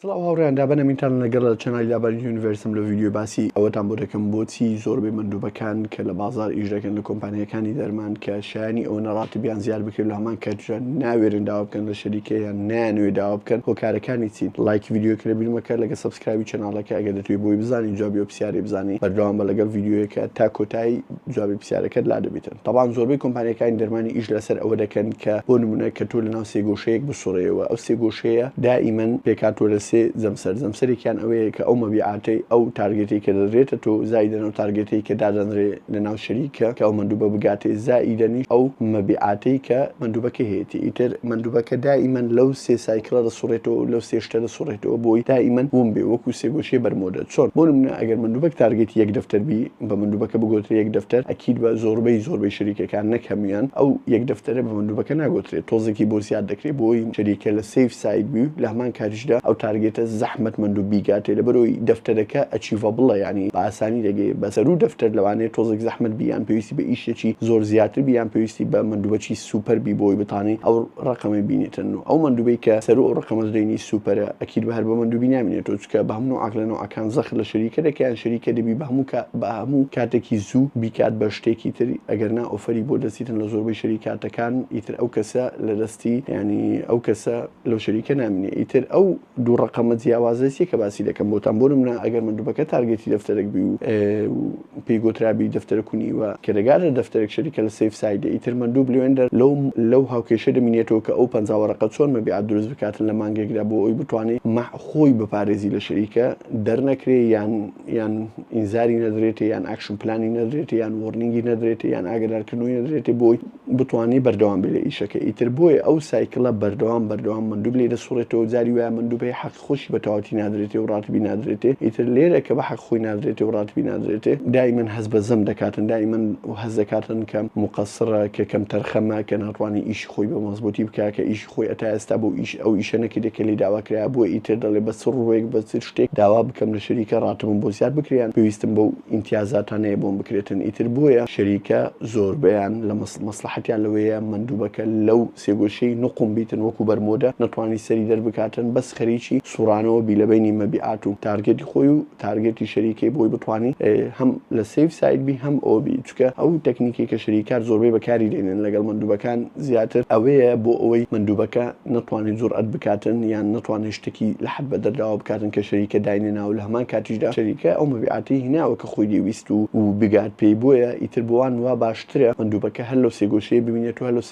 سڵاو هاوڕیان دابەنە مینتان لەگەڵ لە چەنای لابانی یونیڤرسم لە ویددیو باسی ئەوەتان بۆ دەکەم بۆچی زۆربەی مندوبەکان کە لە بازار ئیش دەکەن لە کۆمپانیەکانی دەرمان کە شایانی ئەوە نەڕاتبیان زیاد بکرێت لە هەمان کاتژان ناوێرن داوا بکەن لە شەریکە یان نانوێ داوا بکەن هۆکارەکانی چین لایک ویددیوکە لە بیرمەکە لەگە سبسکرایبی چەناڵەکە ئەگە دەتوی بۆی بزانین جوابی ئەو پرسیارەی بزانین بەردەوام بە لەگەڵ ویددیوەکە تا کۆتایی جوابی پرسیارەکەت لادەبیتن تەبان زۆربەی کۆمپانیەکانی دەرمانی ئیش لەسەر ئەوە دەکەن کە بۆ نمونە کە تۆ لەناو سێ گۆشەیەک بسوڕێیەوە ئەو سێ گۆشەیە دائیمەن پێکهاتوە لە سێ جەمسەر جەمسەرێکیان ئەوەیە کە ئەو مەبیعاتەی ئەو تارگێتەی کە دەدرێتە تۆ زائیدەن ئەو تارگێتەی کە دادەنرێ لەناو شەریکە کە ئەو مەندوبە بگاتێ زائیدەنیش ئەو مەبیعاتەی کە مەندوبەکە هەیەتی ئیتر مەندوبەکە دائیمەن لەو سێ سایکڵە دەسوڕێتەوە و لەو سێ شتە دەسوڕێتەوە بۆی دائیمەن وم بێ وەکو سێ گۆشەی بەرمۆدە چۆن بۆ نمونە ئەگەر مەندوبەک تارگێتی یەک دەفتەر بی بە مندوبەکە بگۆترێ یەک دەفتەر ئەکید بە زۆربەی زۆربەی شەریکەکان نەک هەموویان ئەو یەک دەفتەرە بە مندوبەکە ناگۆترێ تۆزێکی بۆ زیاد دەکرێ بۆی شەریکە لە سەیف ساید بی و لە هەمان کاتیشدا ئەو تارگێتە زەحمەت مندوب بیگاتێ لەبەرئەوەی دەفتەرەکە ئەچیڤەبڵە یانی بە ئاسانی دەگەی بە سەروو دەفتەر لەوانەیە تۆزێک زەحمەت بی یان پێویستی بە ئیشێکی زۆر زیاتر بی یان پێویستی بە مندوبەکی سوپەر بی بۆی بتانی ئەو ڕەقەمەی بینیتن و ئەو مندوبەی کە سەروو ئەو ڕەقەمە دەینی سوپەرە ئەکید بە هەر بە مندوبی نامینێتۆ چکە بە هەموو عەقلە نەوعەکان کان زەخت لە شەریکە دەکە یان شەریکە دەبی بە هەموو کا بە هەموو کاتەکی زوو بیکات بە شتێکی تر ئەگەر نا ئۆفەری بۆ دەسیتن لە زۆربەی شەریکاتەکان ئیتر ئەو کەسە لە دەستی یانی ئەو کەسە لەو شەریکە نامینێ ئیتر ئەو دوو ڕەقەمە جیاوازە چیە کە باسی دەکەم بۆتان بۆ نمونە ئەگەر مەندوبەکە تارگێتی دەفتەرەک بی و پێی گۆترابی دەفتەرە کونی و کێرگارە دەفتەرێک شەریکە لە سەیف سایدێ ئیتر مەندوو بلوێندەر لەو لەو هاوکێشە دەمینێتەوە کە ئەو پەنجا وەرەقە چۆن مەبیعات دروست بکاتن لە مانگێکدا بۆ ئەوی بتوانێ مەح خۆی بپارێزی لە شەریکە دەرنەکرێ یان یان ئینزاری نەدرێتێ یان ئاکشن پلانی نەدرێتێ یان وۆرنینگی نەدرێتێ یان ئاگەدارکردنەوەی نەدرێتێ بۆی بتوانێ بەردەوام بێ لە ئیشەکە ئیتر بۆیە ئەو سایکلە بەردەوام بەردەوام مەندوب لێ دەسوڕێتەوە جاری وایە مەندوبەی حەق خۆشی بە تەواوەتی نادرێتێ و ڕاتبی نادرێتێ، ئیتر لێرە کە بە حەق خۆی نادرێتێ و ڕاتبی نادرێتێ، دائیمەن هەست بە زەم دەکاتن، دائیمەن هەست دەکاتن کە موقەسرە، کە کەمتەرخەمە، کە ناتوانی ئیشی خۆی بە مەزبووتی بکا، کە ئیشی خۆی ئەتا ئێستا بەو ئیش ئەو ئیشە نەکردیە کە لێی داوا کرایا، بۆیە ئیتر دەڵێ بە چ ڕووێک، بە چ شتێک داوا بکەم لە شەریکە ڕاتبم بۆ زیاد بکرێ یان پێویستم بەو ئیمتیازاتانەیە بۆم بکرێتن، ئیتر بۆیە شەریکە زۆربەیان لە مەسڵەحەتیان لەوەیە مەندووبەکە لەو سێگۆشەی نوقم بیتن وەکو بەرمۆدە نەتوانی سەری دەربکاتن بەس خەریکی سوڕانەوە بی لەبەینی مەبیعات و تارگێتی خۆی و تارگێتی شەریکەی بۆی بتوانی هەم لە سەیف ساید بی هەم ئەوە بی چونکە ئەو تەکنیکەی کە شەریکار زۆربەی بەکاری دێنن لەگەڵ مەندوبەکان زیاتر ئەوەیە بۆ ئەوەی مەندوبەکە نەتوانێت جوڕئەت بکاتن یان نەتوانێت شتەکی لە حەد بەدەرداوە بکاتن کە شەریکە داینێناوە لە هەمان کاتیشدا شەریکە ئەو مەبیعاتەی هیناوە کە خۆی دەیویست و بگات پێی بۆیە ئیتر بۆوان وا باش ترە، مندوبەکە هەر لەو سێگۆشەیە بمینێت و هەر لەو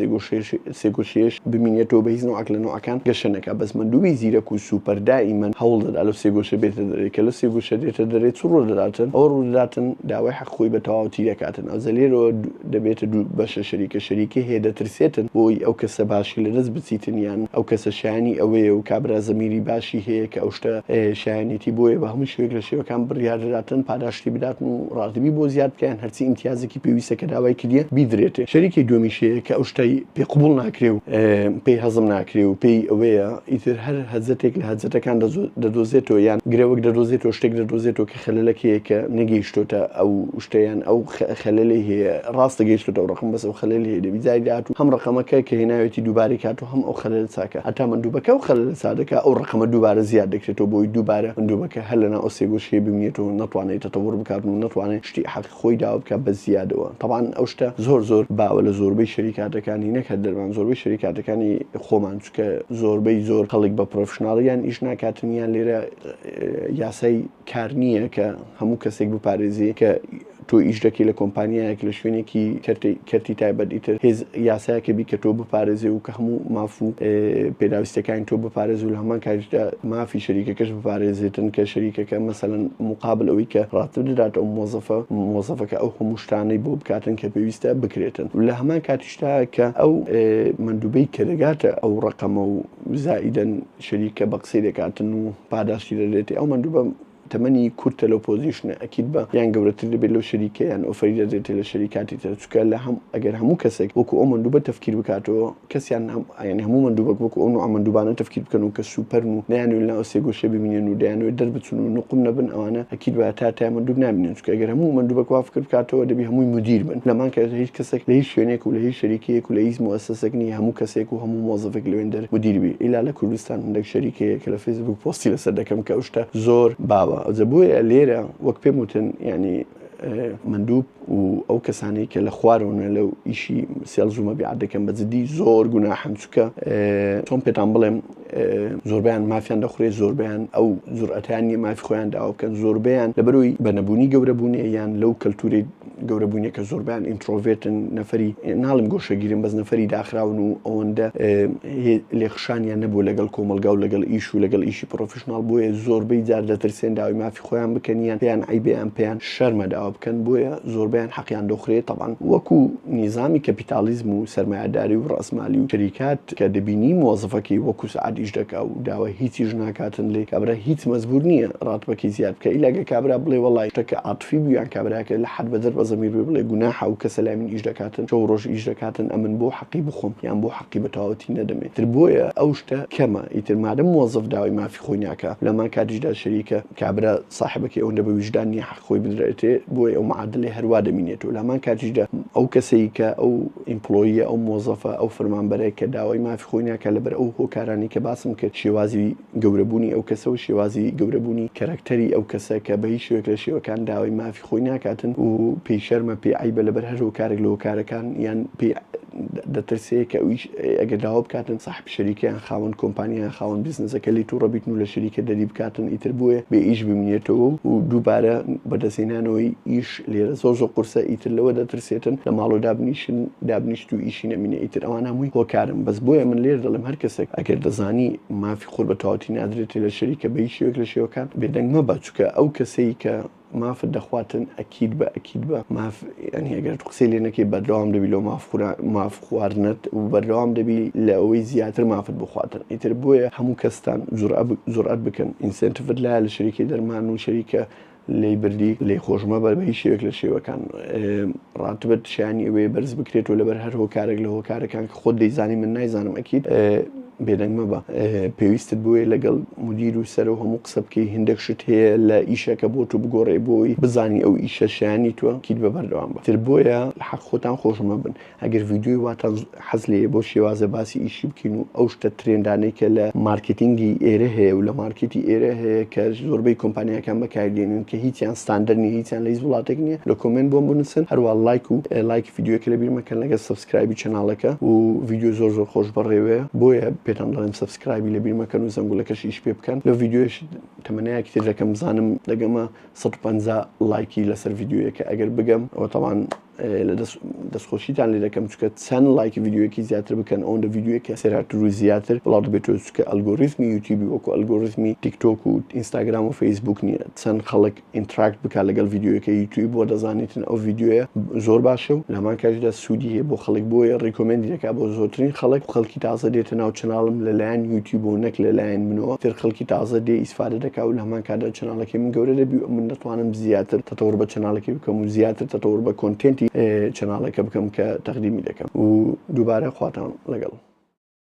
سێگۆشەیەش بمینێتەوە، بەهیچ نەوعەک لە نەوعەکان گەشە نەکات، بەس مندوبی زیرەک و سوپەر دائیمەن هەوڵ دەدات لەو سێگۆشە بێتە دەرێ، کە لەو سێگۆشە دێتە دەرێ چ ڕوودەداتن؟ ئەوە ڕوودەداتن داوای حەق خۆی بە تەواوەتی دەکاتن، ئەوجا لێرەوە دەبێتە دوو بەشە شەریکە شەریکەی هەیە دەترسێتن بۆی ئەو کەسە باشی لەدەست بچیتن یان ئەو کەسە شایەنی ئەوەیە و کابرا زەمیری باشی هەیە کە ئەو شتە شایەنیەتی بۆیە بە هەموو شێوەیەک لە شێوەکان بڕیار دەداتن پاداشتی بداتن و ڕازیبی بۆ زیاد بکە یان چ ئیمتیازێکی پێویستە کە داوای کردیە بیدرێتێ. شەریکەی دووەمیش هەیە کە ئەو شتەی پێ قبوڵ ناکرێ و پێی هەزم ناکرێ و پێی ئەوەیە ئیتر هەر هەزەتێک لە هەزەتەکان دەدۆزێتەوە یان گرەوەک دەدۆزێتەوە شتێک دەدۆزێتەوە کە خەلەلەک هەیە کە نەگەیشتۆتە ئەو شتە یان ئەو خەلەلەی هەیە ڕاستە گەیشتۆتە ئەو ڕەقەم بەس ئەو خەلەلی هەیە دەبی جاری داهاتوو هەم ڕەقەمەکە کە هێناوێتی دووبارەی کاتوە هەم ئەو خەلەلە چاکە هەتا مندوبەکە ئەو خەلەلە چا دەکا ئەو رەقەمە دووبارە زیاد دەکرێتەوە بۆی دووبارە مندوبەکە هەر لەناو ئەو سێ گۆشکەی بمینێتەوە نەتوانێ تەتەوەر بکات و نەتوانێ شتی حەقی خۆی داوا بکات بە زیادەوە تەبعەن ئەو شتە زۆر زۆر باوە لە زۆربەی شەریکاتەکانی نەک هەر دەرمان زۆربەی شەریکاتەکانی خۆمان چونکە زۆربەی زۆر خەڵک بە پرۆفشناڵ یان ئیش ناکاتن یان لێرە یاسای کار نییە کە هەموو کەسێک بپارێزی کە تۆ ئیش دەکەی لە کۆمپانیایەک لە شوێنێکی کەرتی تایبەت ئیتر هێز یاسایەکە بی کە تۆ بپارێزێ و کە هەموو ماف و پێداویستەکانی تۆ بپارێز و لە هەمان کاریشدا مافی شەریکەکەش بپارێزێتن کە شەریکەکە مەسەلەن مقابل ئەوەی کە ڕاتب دەدات ئەو مۆزەفە مۆزەفەکە ئەو هەموو شتانەی بۆ بکاتن کە پێویستە بکرێتن لە هەمان کاتیشدا کە ئەو مەندوبەی کە دەگاتە ئەو ڕقەمە و زائیدەن شەریکە بە قسەی دەکاتن و پاداشتی دەدرێتێ ئەو مەندوبە تەمەنی کورتە لەو پۆزیشنە ئەکید بە یان گەورەتر دەبێت لەو شەریکە یان ئۆفەری دەدرێتێ لە شەریکاتی تر چونکە لە هەم ئەگەر هەموو کەسێک وەکو ئەو مەندوبە تەفکیر بکاتەوە کەسیان هەم یانی هەموو مەندوبەک وەکو ئەو نوعە مەندوبانە تەفکیر بکەن و کە سوپەرن و نەیانوێ لەناو سێ گۆشێ بمینێن و دەیانوێ دەربچن و نوقم نەبن ئەوانە ئەکید بە هەتا هەتایە مەندوب نامینێن چونکە گەر هەموو مەندوبەک وا فکر بکاتەوە دەبی هەمووی مدیر بن لەمان کە هیچ کەسێک لە هیچ شوێنێک و لە هیچ شەریکەیەک و لە هیچ موەسەسەک نییە هەموو کەسێک و هەموو مۆزەفێک لەوێندەر مدیر بی ئیلا لە کوردستان هەندەک شەریک هەیە کە لە فەیسبووک پۆستی لەسەر دەکەم کە ئەو شتە زۆر باوە ئەوجە بۆیە لێرە وەک پێم وتن یانی مندوب و ئەو کەسانی کە لە خوارەوەە لەو ئیشی سێڵزومە بیعات دەکەم بە جدی زۆر گوناحم چکە چۆن پێتان بڵێم زۆربەیان مافیان دەخورێت، زۆربەیان ئەو جورئەتەیان نییە مافی خۆیان داوا بکەن، زۆربەیان لەبەرئەوەی بە نەبوونی گەورە بوونێ یان لەو کەلتوورەی گەورە بوونێ کە زۆربەیان ئینترۆڤێرتن، نەفەری ناڵێم گۆشەگیرن بەس نەفەری داخراون و ئەوەندە لێکخشانیان نەبووە لەگەڵ کۆمەڵگا و لەگەڵ ئیش و لەگەڵ ئیشی پڕۆفیشناڵ بۆیە زۆربەی جار دەترسێن داوای مافی خۆیان بکەن یان پێیان عەیبە یان پێیان شەرمە داوا بکەن بۆیە زۆربەیان حەقیان دەخورێ تەبعەن وەکو نیزامی کەپیتاڵیزم و سەرمایەداری و ڕاسمالی و شەریکات کە دەبینی مۆزەفەکەی وەکو سەعات ئیش دەکا و داوای هیچیش ناکاتن لێ کابرا هیچ مەجبور نیە ڕاتبەکەی زیاد بکا ئیلا گەر کابرا بڵێ وەڵای شتەکە عاتفی بوو یان کابراکە لە حەد بەدەر بە زەمیر بێ بڵێ گوناحە ئەو کەسە لای من ئیش دەکاتن شەو ڕۆژ ئیش دەکاتن ئەمن بۆ حەقی بخۆم یان بۆ حەقی بە تەواوەتی نەدەمێ تر بۆیە ئەو شتە کەمە ئیتر مادەم مۆزەف داوای مافی خۆی ناکا لەمان کاتیشدا شەریکە کابرا ساحبەکەی ئەوەندە بە ویژدان نیە حەق خۆی بدرێتێ بۆیە ئەو معادلەی هەروا دەمینێتو لامان کاتیشدا ئەو کەسەی کە ئەو ئیمپلۆییە ئەو مۆزەفە ئەو فەرمانبەرە کە داوای مافی خۆی ناکا لەبەر ئەو هۆکارانەی کە باسم کرد شێوازی گەورەبوونی ئەو کەسەو شێوازی گەورەبوونی کەرەکتەری ئەو کەسە کە بە هیچ شێوەیەک لە شێوەکان داوای مافی خۆی ناکاتن و پێی شەرمە پێی عەیبە لەبەر هەر هۆکارێک لە هۆکارەکان یان پێی دەترسێ کە ئەویش ئەگەر داوا بکاتن ساحب شەریکەیان خاوەن کۆمپانیایان خاوەن بیزنسەکە لی تووڕە بیتن و لە شەریکە دەری بکاتن ئیتر بۆیە بێ ئیش بمینێتەوە و دووبارە بەدەستهێنانەوەی ئیش لێرە زۆر زۆر قورسە ئیتر لەوە دەترسێتن لە ماڵەوە دابنیشن دابنیشت و ئیشی نەمینێ ئیتر ئەوان هەمووی هۆکارن بەس بۆیە من لێرە دەڵێم هەر کەسێک ئەگەر دەزانی مافی خۆت بە تەواوەتی نادرێتێ لە شەریکە بە هیچ شێوەیەک لە شێوەکان بێدەنگ مەبە چونکە ئەو کەسەی کە مافت دەخواتن ئەکید بە ئەکید بە ماف یانی ئەگەر تو قسەی لێ نەکەی بەردەوام دەبی لۆ ماف خورا ماف خواردنت و بەردەوام دەبی لە ئەوەی زیاتر مافت بخواتن ئیتر بۆیە هەموو کەستان جورئە جورئەت بکەن ئینسێنتڤت لایە لە شەریکەی دەرمان و شەریکە لێی بردی لێی خۆش مەبە بە هیچ شێوەیەک لە شێوەکان ڕاتبت شانی ئەوەیە بەرز بکرێت و لەبەر هەر هۆکارێک لە هۆکارەکان کە خۆت دەیزانی من نایزانم ئەکید بێدەنگ مەبە پێویستت بۆیە لەگەڵ مدیر و سەرۆ هەموو قسە بکەی هندێک شت هەیە لە ئیشەکە بۆ تو بگۆڕێ بۆی بزانی ئەو ئیشە شایانی توە کیت بە بەردەوام بە تر بۆیە لە حەق خۆتان خۆش مەبن ئەگەر ڤیدیۆی واتان حەز لێیە بۆ شێوازە باسی ئیشی بکەین و ئەو شتە ترێندانەی کە لە مارکێتینگی ئێرە هەیە و لە مارکێتی ئێرە هەیە کە زۆربەی کۆمپانیاکان بەکاری دێنن کە هیچیان ستاندەر نیە هیچیان لە هیچ وڵاتێک نیە لە کۆمێنت بۆم بنووسن هەروە لایک و لایکی ڤیدیۆکە لە بیر مەکەن لەگەڵ سکرایبی چەناڵەکە و ڤیدیۆ زۆر زۆر خۆش بەڕێوەیە بۆیە پێتان دەڵێم سبسکرایبی لە بیر مەکەن و زەنگولەکەش ئیش پێ بکەن لە ڤیددیوش تەمەنەیەکی تر دەکەم بزانم دەگەمە 150 لایکی لەسەر ڤیددیوەکە ئەگەر بگەم ئەوە تاوان لە دەستخۆشیتان لێ دەکەم چکە چەند لایکی ڤیددیوەکی زیاتر بکەن ئەوەن لە ڤیددیوەکە سێراتر و زیاتر بڵاو دەبێتەوە چکە ئەلگۆریزمی یوتیوبی وەکو ئەلگۆریزمی تیکتۆک و ئینستاگرام و فەیسبوک نییە چەند خەڵک ئینتراکت بکە لەگەڵ ڤیدیۆیەکە یوتوی بۆ دەزانیتن ئەو ڤیددیوە زۆر باشە و لەمان کاژدا سوودی هەیە بۆ خەڵک بۆیە ڕیکۆمنتی دەکا بۆ زۆترین خەڵک خەڵکی تازە دێتە ناو چناڵم لەلایەن یوتی بۆ نەک لەلایەن منەوە تر خەڵکی تازە دێ ئیسفادە دەکا و لەمان کادا چناڵەکەی من گەورە دەبی و من دەتوانم زیاتر تەتەور بە چناڵەکەی بکەم و زیاتر تەتەور بە کۆنتێنتی چناڵەکە بکەم کە تەقدیمی دەکەم و دووبارە خواتان لەگەڵ.